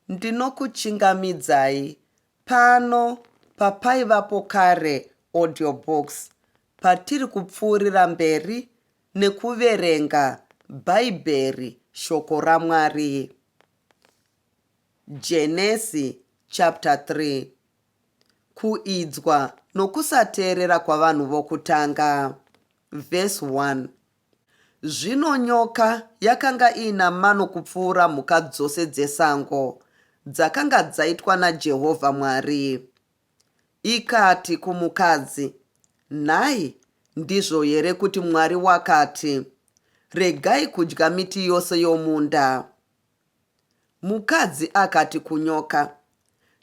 Ndinokuchingamidzai pano paPaivapo Kare Audiobook patiri kupfuurira mberi nekuverenga Bhaibheri Shoko raMwari, Genesi chapter 3, Kuidzwa Nokusateerera kwaVanhu Vokutanga, verse 1 Zvino nyoka yakanga iina mano kupfuura mhuka dzose dzesango dzakanga dzaitwa naJehovha Mwari. Ikati kumukadzi, Nhai, ndizvo here kuti Mwari wakati, Regai kudya miti yose yomunda? Mukadzi akati kunyoka,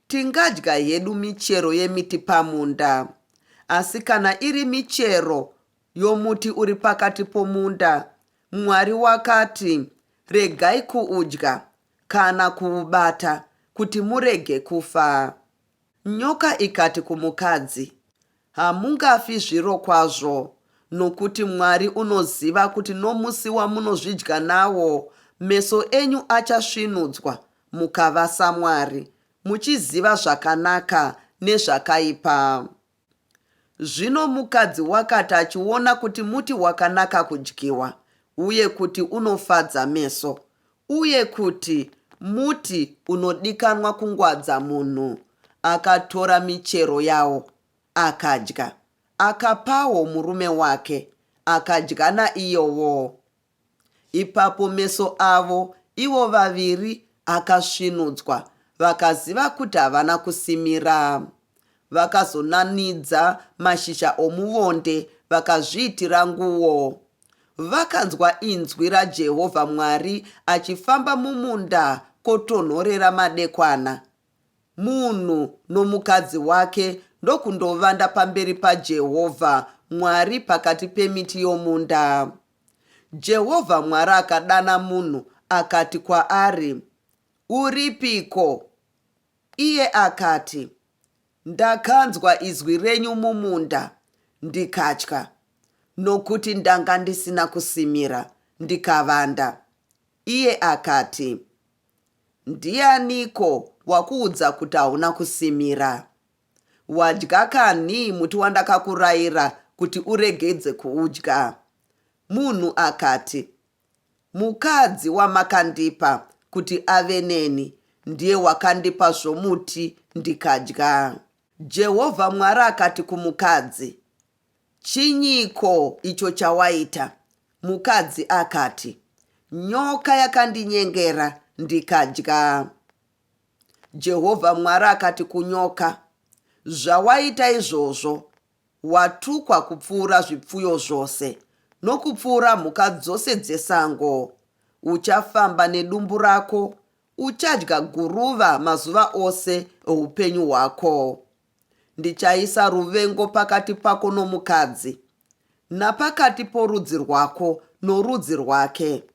Tingadya hedu michero yemiti pamunda, asi kana iri michero yomuti uri pakati pomunda, Mwari wakati, Regai kuudya, kana kuubata, kuti murege kufa. Nyoka ikati kumukadzi, Hamungafi zvirokwazvo, nokuti Mwari unoziva kuti nomusi wamunozvidya nawo, meso enyu achasvinudzwa, mukava saMwari, muchiziva zvakanaka nezvakaipa. Zvino mukadzi wakati achiona kuti muti wakanaka kudyiwa, uye kuti unofadza meso, uye kuti muti unodikanwa kungwadza munhu, akatora michero yawo, akadya, akapawo murume wake, akadya naiyowo, Ipapo meso avo ivo vaviri akasvinudzwa vakaziva kuti havana kusimira. Vakazonanidza mashizha omuvonde vakazviitira nguo. Vakanzwa inzwi raJehovha Mwari achifamba mumunda kotonhorera madekwana. Munhu nomukadzi wake ndokundovanda pamberi paJehovha Mwari pakati pemiti yomunda. Jehovha Mwari akadana munhu akati kwaari, Uripiko? Iye akati, Ndakanzwa izwi renyu mumunda, ndikatya, nokuti ndanga ndisina kusimira, ndikavanda. Iye akati, Ndianiko wakuudza kuti hauna kusimira? Wadya kanhi muti wandakakuraira kuti uregedze kuudya? Munhu akati, Mukadzi wamakandipa kuti ave neni ndiye wakandipa zvomuti ndikadya. Jehovha Mwari akati kumukadzi, Chinyiko icho chawaita? Mukadzi akati, Nyoka yakandinyengera ndikadya. Jehovha Mwari akati kunyoka, Zvawaita izvozvo, watukwa kupfuura zvipfuyo zvose nokupfuura mhuka dzose dzesango. Uchafamba nedumbu rako, uchadya guruva mazuva ose oupenyu hwako. Ndichaisa ruvengo pakati pako nomukadzi, napakati porudzi rwako norudzi rwake.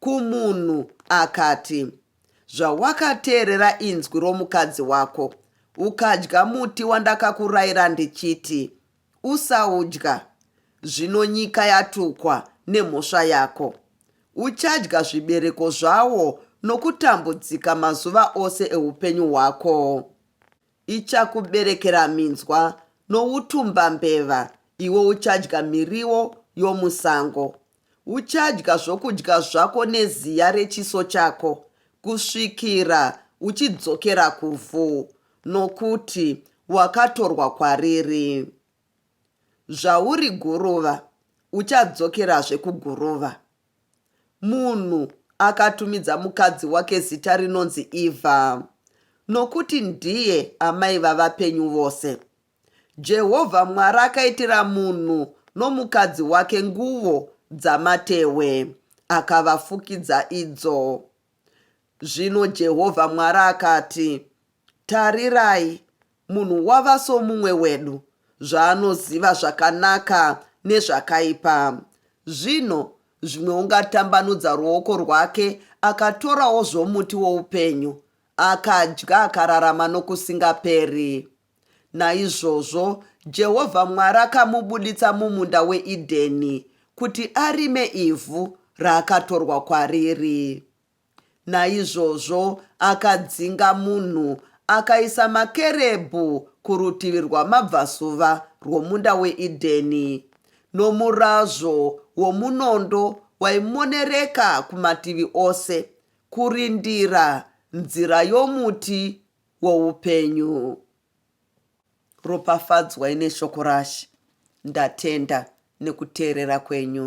kumunhu akati, Zvawakateerera inzwi romukadzi wako, ukadya muti wandakakurayira ndichiti, Usaudya, zvino nyika yatukwa nemhosva yako. Uchadya zvibereko zvawo nokutambudzika mazuva ose eupenyu hwako. Ichakuberekera minzwa noutumbambeva, iwe uchadya miriwo yomusango. Uchadya zvokudya zvako neziya rechiso chako kusvikira uchidzokera kuvhu, nokuti wakatorwa kwariri. Zvauri guruva, uchadzokerazve kuguruva. Munhu akatumidza mukadzi wake zita rinonzi Ivha, nokuti ndiye amai vavapenyu vose. Jehovha Mwari akaitira munhu nomukadzi wake nguvo dzamatehwe, akavafukidza idzo. Zvino Jehovha Mwari akati, Tarirai, munhu wava somumwe wedu, zvaanoziva zvakanaka nezvakaipa. Zvino zvimwe ungatambanudza ruoko rwake akatorawo zvomuti woupenyu, akadya akararama nokusingaperi. Naizvozvo Jehovha Mwari akamubuditsa mumunda weEdheni kuti arime ivhu raakatorwa kwariri. Naizvozvo akadzinga munhu akaisa makerebhu kurutivi rwamabvazuva rwomunda weEdheni, nomurazvo womunondo waimonereka kumativi ose, kurindira nzira yomuti woupenyu ropafadzwai neshoko rashe ndatenda nekuteerera kwenyu